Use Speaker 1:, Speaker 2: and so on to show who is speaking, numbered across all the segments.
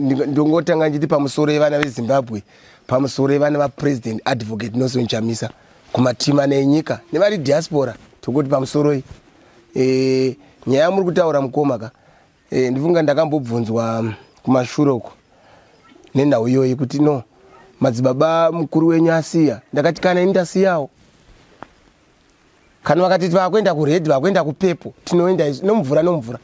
Speaker 1: ndongotanga nditi pamusoro yevana vezimbabwe pamusoro yevana vapresident advocate nelson chamisa kumatima nenyika nevari diaspora tokuti pamusoroi e, eh, nyaya yamuri kutaura mukoma ka e, ndifunga ndakambobvunzwa mm, kumashure uko nenhau iyoyi kuti no madzibaba mukuru wenyu asiya ndakati kana ini ndasiyawo kana vakati vakuenda kured vakuenda kupepo tinoenda izvi nomvura nomvura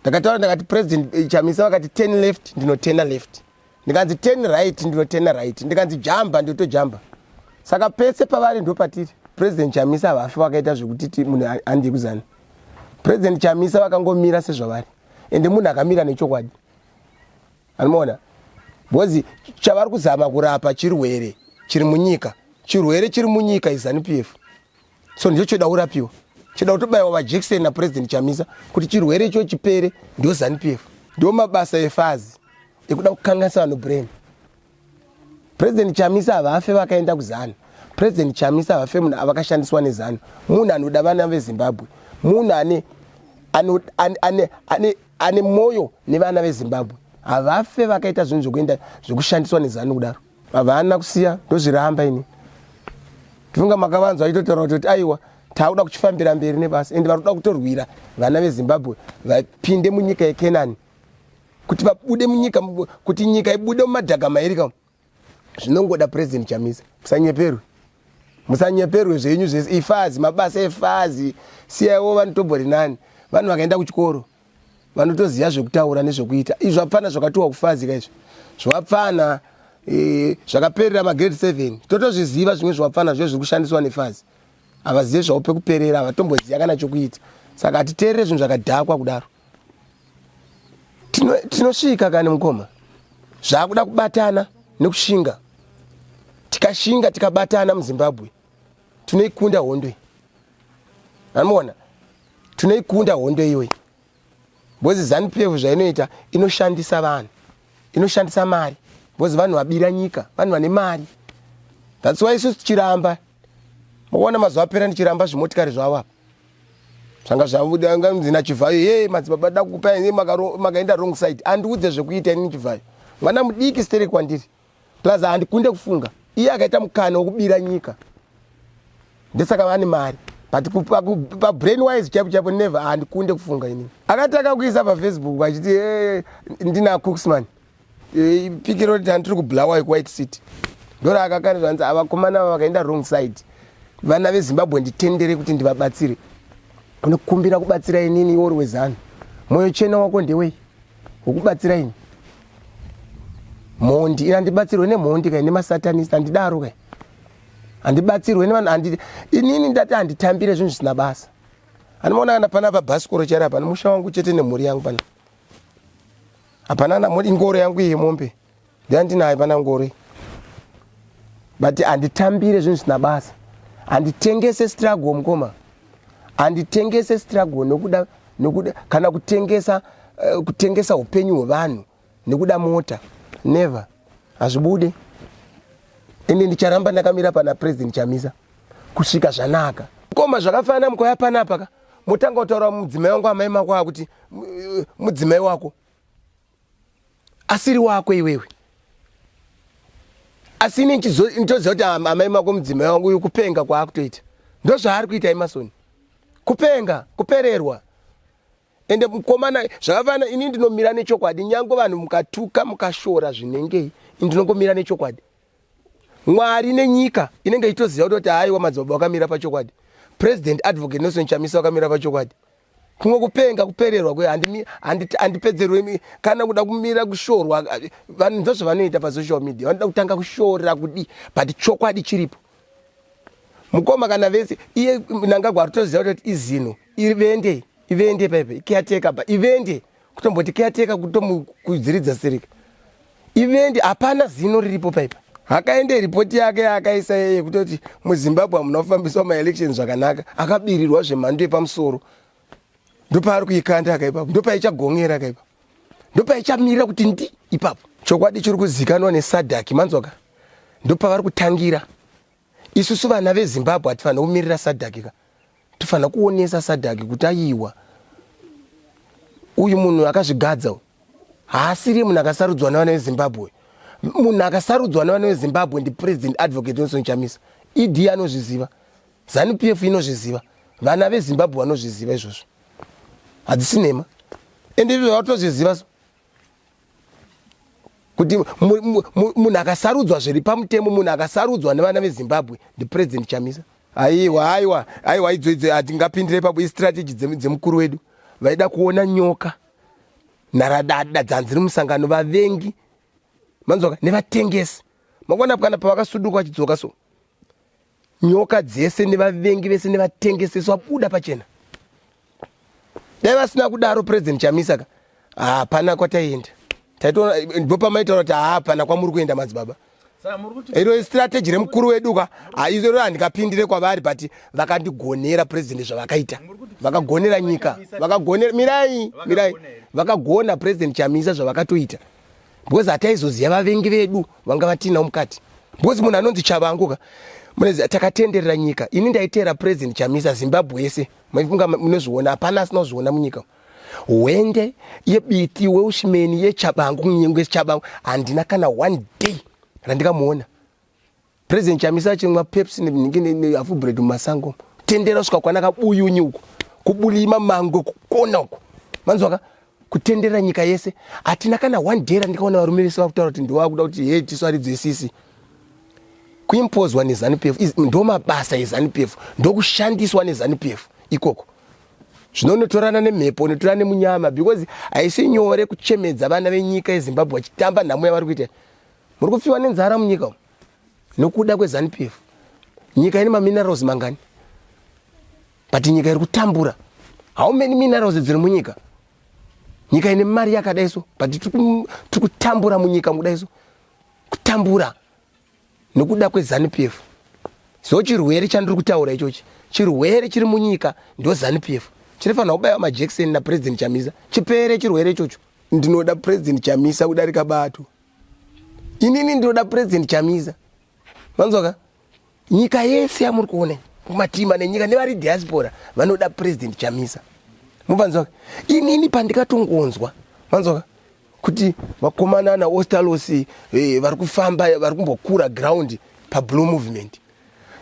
Speaker 1: ndakataura ndakati president eh, chamisa vakati ten left ndinotena left ndikanzi ten right ndinotena right ndikanzi jamba ndotojamba saka pese pavari ndopatiri president chamisa havafi vakaita zvekuti munhu handie kuzana president chamisa vakangomira sezvavari ende munhu akamira nechokwadi anoona because chavari kuzama kurapa chirwere chiri munyika chirwere chiri munyika izanup f so ndicho choda kurapiwa choda kutobaiwa vajekiseni napurezidendi chamisa kuti chirwere icho chipere ndio zanup f ndio mabasa efazi ekuda kukanganisa vanhu brain President Chamisa havafe vakaenda kuzanu. President Chamisa havafe munhu avakashandiswa nezanu. Munhu anoda vana veZimbabwe. Munhu ane ane ane ane ane moyo nevana veZimbabwe. Havafe vakaita zvinhu zvekuenda zvekushandiswa nezanu kudaro. Havana kusiya ndozviramba ini. Tifunga makavanzwa aitotaura kuti aiwa taakuda kuchifambira mberi nebasa ende vari kuda kutorwira vana vezimbabwe vapinde munyika yekenani kuti vabude munyika kuti nyika ibude mumadhaga mairi ka zvinongoda president chamisa musanyeperwe musanyeperwe zvenyu zvese ifazi mabasa efazi siyaiwo vanotobori nani vanhu vakaenda kuchikoro vanotoziva zvekutaura nezvekuita izvi zvapfana zvakatiwa kufazika izvi zvapfana e, zvakaperera magrade seven totozviziva zvimwe zvapfana zve zviri kushandiswa nefazi havazive zvavo pekuperera havatomboziva kana chokuita saka hatiterere zvinhu zvakadhakwa kudaro tinosvika kani mukoma zvakuda kubatana nekushinga tikashinga tikabatana muzimbabwe tinoikunda hondo iyi amuona tinoikunda hondo iyoyi bhozi zanu pf zvainoita inoshandisa vanhu inoshandisa mari bhozi vanhu vabira nyika vanhu vane mari that's why isusu tichiramba mukuona mazuva apera ndichiramba zvimotikari zvavo apa zvanga zvabuda nganzi nachivhayo ye madzibaba da kukupa ini makaenda wrong side andiudze zvekuita ini chivhayo mwana mudiki stere kwandiri plus handikunde kufunga iye akaita mukana wekubira nyika ndesaka vane mari but pabrain wise chapo chapo never handikunde kufunga ini akataka kuisa pafacebook achiti ndina cooksman Eh, pikiro riti handiri kublawa yekuwhite city ndoraakakanizva hanzi avakomana ava vakaenda wrong side vana vezimbabwe nditendere kuti ndivabatsire unokumbira kubatsira inini iwo uri wezanu mwoyo chena wako ndewei wokubatsira ini mhondi ini handibatsirwe nemhondi kai nemasatanist handidaro kai handibatsirwe nevanhu handi inini ndati handitambire zvinhu zvisina basa handimaona kana pana pabhasikoro chaira pano musha wangu chete nemhuri yangu pana hapana na modi ngoro yangu iyi mombe ndiyandinayo pana ngoro iyi but handitambire zvinhu zvisina basa handitengese struggle mukoma handitengese struggle nokuda nokuda kana kutengesa uh, kutengesa upenyu hwevanhu nekuda mota never hazvibude ende ndicharamba ndakamira pana president chamisa kusvika zvanaka koma zvakafanana mukauya panapa ka motanga kutaura mudzimai wangu amai mako akuti mudzimai wako asiri wako iwewe asi ini nditoziva kuti amai mako mudzimai wangu uyu kupenga kwaakutoita ndozvaari kuita emasoni kupenga kupererwa ende mukomana zvakafanana ini ndinomira nechokwadi nyange vanhu mukatuka mukashora zvinengei ini ndinongomira nechokwadi mwari nenyika inenge ichitoziva kuti haiwa madzibaba wakamira pachokwadi president advocate nelson chamisa wakamira pachokwadi kumwe kupenga kupererwa kwe handipedzerwe kana kuda kumira kushorwa vanhu ndozvo vanoita pasocial media vanoda kutanga kushora kudi but chokwadi chiripo mukoma kana vese iye nangagwa ritoziva kuti izino ivende ivende paipe ikiyateka ba ivende kutomboti keyateka kutomukwidziridza sirika ivendi hapana zino riripo paipa akaende ripoti yake yaakaisa yeye kutoti muzimbabwe hamuna kufambiswa maelections zvakanaka akabirirwa zvemhando yepamusoro ndopaari kuikanda akaipapo ndopaicagongera akaipa ndopaichamirira kuti ndi ipapo chokwadi chiri kuzikanwa nesadhaki manzwaka ndopavari kutangira isusu vana vezimbabwe hatifanira kumirira sadhaki ka tofanira kuonesa sadhaki kuti ayiwa uyu munhu akazvigadza uyu haasiri munhu akasarudzwa nevana vezimbabwe munhu akasarudzwa nevana vezimbabwe ndipresident advocate nelson chamisa ed anozviziva zanu p f inozviziva vana vezimbabwe vanozviziva izvozvo hadzisi nhema ende izvo vatozviziva so kuti munhu akasarudzwa zviri pamutemo munhu akasarudzwa nevana vezimbabwe ndipresident chamisa aiwa aiwa aiwa idzo idzo hatingapindire papo istrategy dzemukuru wedu vaida kuona nyoka nharadada dzanzi rimusangano vavengi manzwaka nevatengesi makuona kana pavakasuduka vachidzoka so nyoka dzese nevavengi vese nevatengesesi vabuda pachena dai vasina kudaro president chamisa ka hapana kwataienda taitoona ndipo pamaitaura kuti hapana kwamuri kuenda madzibaba iro istrategy remukuru wedu ka izoro handikapindire kwavari but vakandigonera president zvavakaita vakagonera nyika vakagonera mirai mirai vakagona president chamisa zvavakatoita because hataizoziva vavengi vedu vanga vatiinawo mukati because munhu anonzi chavangu ka munoziva takatenderera nyika ini ndaiteera president chamisa zimbabwe yese maifunga munozviona hapana asina kuzviona munyika hwende yebiti weushimeni yechabangu kunyengo yechabangu handina kana one day randikamuona President Chamisa achimwa Pepsi nehafu bread mumasango tendera kusvika kwana kabuyunyi uko kubulima mango kukona uko manzwaka kutendera nyika yese hatina kana one day randikaona varume vese vakutaura kuti ndovakuda kuti he tisu aridzwe sisi kuimpozwa nezanu pf ndo mabasa ezanu pf ndokushandiswa nezanu pf ikoko zvino unotorana nemhepo unotorana nemunyama because haisi nyore kuchemedza vana venyika yezimbabwe vachitamba nhamo yavari kuita muri kufiwa nenzara munyika umu nokuda kweZanu PF. Nyika ine maminerals mangani? But nyika iri kutambura. How many minerals dziri munyika? Nyika ine mari yakadai so, but tiri kutambura munyika mukudai so. Kutambura nokuda kweZanu PF. So chirwere chandiri kutaura ichochi, chirwere chiri munyika ndo Zanu PF. Chinofanira kubaiwa majekiseni naPresident Chamisa. Chipere chirwere ichocho. Ndinoda President Chamisa kudarika bato. inini ndinoda president chamisa vanzwaka nyika yese yamuri kuona kumatima nenyika nevari diaspora vanoda president chamisa muvanzwaka inini pandikatongonzwa vanzwaka kuti vakomana naostalos eh, vari kufamba vari kumbokura ground pablue movement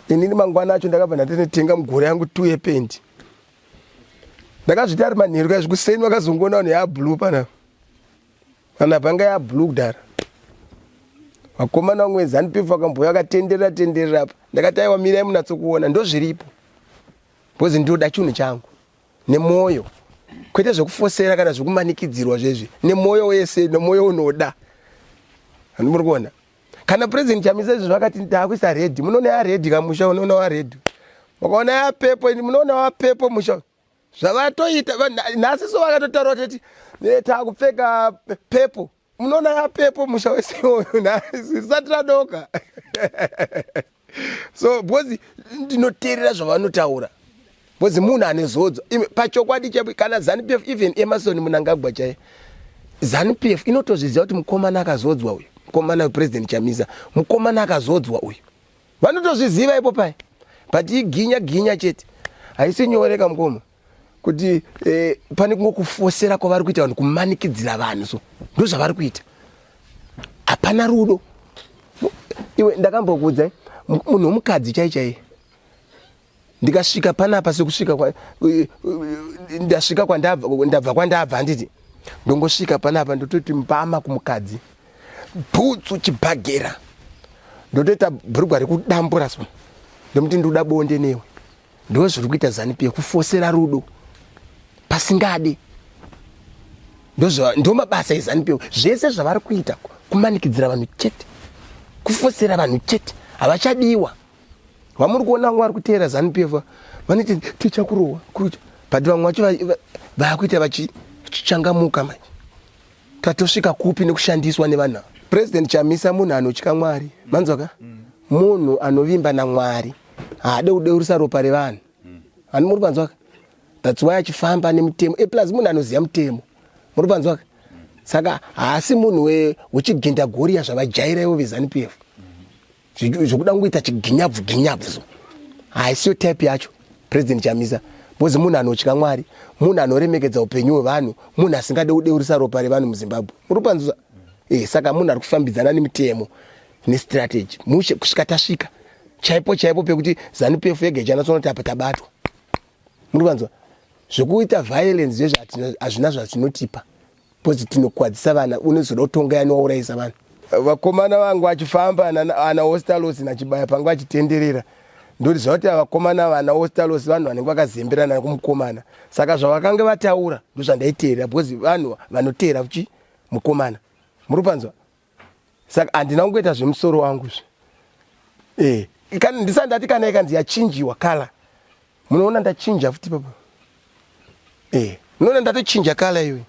Speaker 1: inini mangwana acho ndakabva ndatinotenga mugore yangu two yependi ndakazviti ari manheru kaizvi kuseni vakazongoona vanhu yablue panapa Kana panga ya blue kudara. Vakomana wangu wenzani pifu akamboya akatenderera tenderera apa. Ndakati aiwa mirai munatso kuona ndozviripo. Bozi ndoda chunhu changu nemoyo. Kwete zvekufosera kana zvekumanikidzirwa zvezvi nemoyo wese nemoyo unoda. Handimuri kuona. Kana president Chamisa izvo zvakati ndakuisa red. Munoona ya red kamusha unoona wa red. Makaona ya pepo munoona wa pepo musha. zvavatoita nhasi so vakatotaura teti eh, takupfeka pepo munoona yapepo musha wese iwoyo nhasi risati radoka so because ndinoteerera zvavanotaura because munhu ane zodzo pachokwadi chaipo kana zanupf even emerson munangagwa chaye zanupf inotozviziva kuti mukomana akazodzwa uyu mukomana wepresident chamisa mukomana akazodzwa uyu vanotozviziva ipo paye but iginya ginya chete haisi nyore kamukoma kuti eh, pane kungokufosera kwavari kuita vanhu kumanikidzira vanhu so ndozvavari kuita hapana rudo iwe ndakambokuudzai munhu womukadzi chai chaiye ndikasvika panapa sekusvika ndasvika kwandabva kwandabva handiti ndongosvika panapa ndototi mbama kumukadzi bhutsu chibhagera ndotoita bhurugwa rekudambura so ndomuti ndikuda bonde newe ndo zviri kuita zanipi yekufosera rudo pasingadi ndo mabasa ezanipi zvese zvavari kuita kumanikidzira vanhu chete kufosera vanhu chete havachadiwa vamuri kuona vanga vari kuteera zanupf vanoti tichakurohwa kurucha but vamwe vacho vakuita vachichangamuka manje tatosvika kupi nekushandiswa nevanhu ava president chamisa munhu anotya mwari manzwaka mm. munhu anovimba namwari haade kudeurisa ropa revanhu mm. ani muri panzwaka thats why achifamba nemutemo eplus eh, munhu anoziva mutemo muri panzwaka mm. saka haasi munhu wechigenda goriya zvavajaira ivo vezanupf zvokuda kungoita chiginyabvu ginyabvu so haisiyo type yacho president chamisa bcause munhu anotya mwari munhu anoremekedza upenyu hwevanhu munhu asingade kudeurisa ropa revanhu muzimbabwe muri panzuza e eh, saka munhu ari kufambidzana nemitemo nestrategy mushe kusvika tasvika chaipo chaipo pekuti zanupf yega ichanatsoonoti apa tabatwa muri panzuza zvekuita violence zvezvo hazvina zvazvinotipa Because tinokwadzisa vana unozoda kutonga yani waurayisa vana. Vakomana vangu achifamba ana, ana hostalos nachibaya pangu achitenderera ndoti zvauti avakomana vana hostalos vanhu vanenge vakazemberana kumukomana saka zvavakange vataura ndozvandaiteerera because vanhu vanoteera kuchi mukomana muri panzwa saka handina kungoita zvemusoro wangu zve e kana ndisati ndati kana ikanzi yachinjiwa kala munoona ndachinja futi papa e munoona ndatochinja kala iwe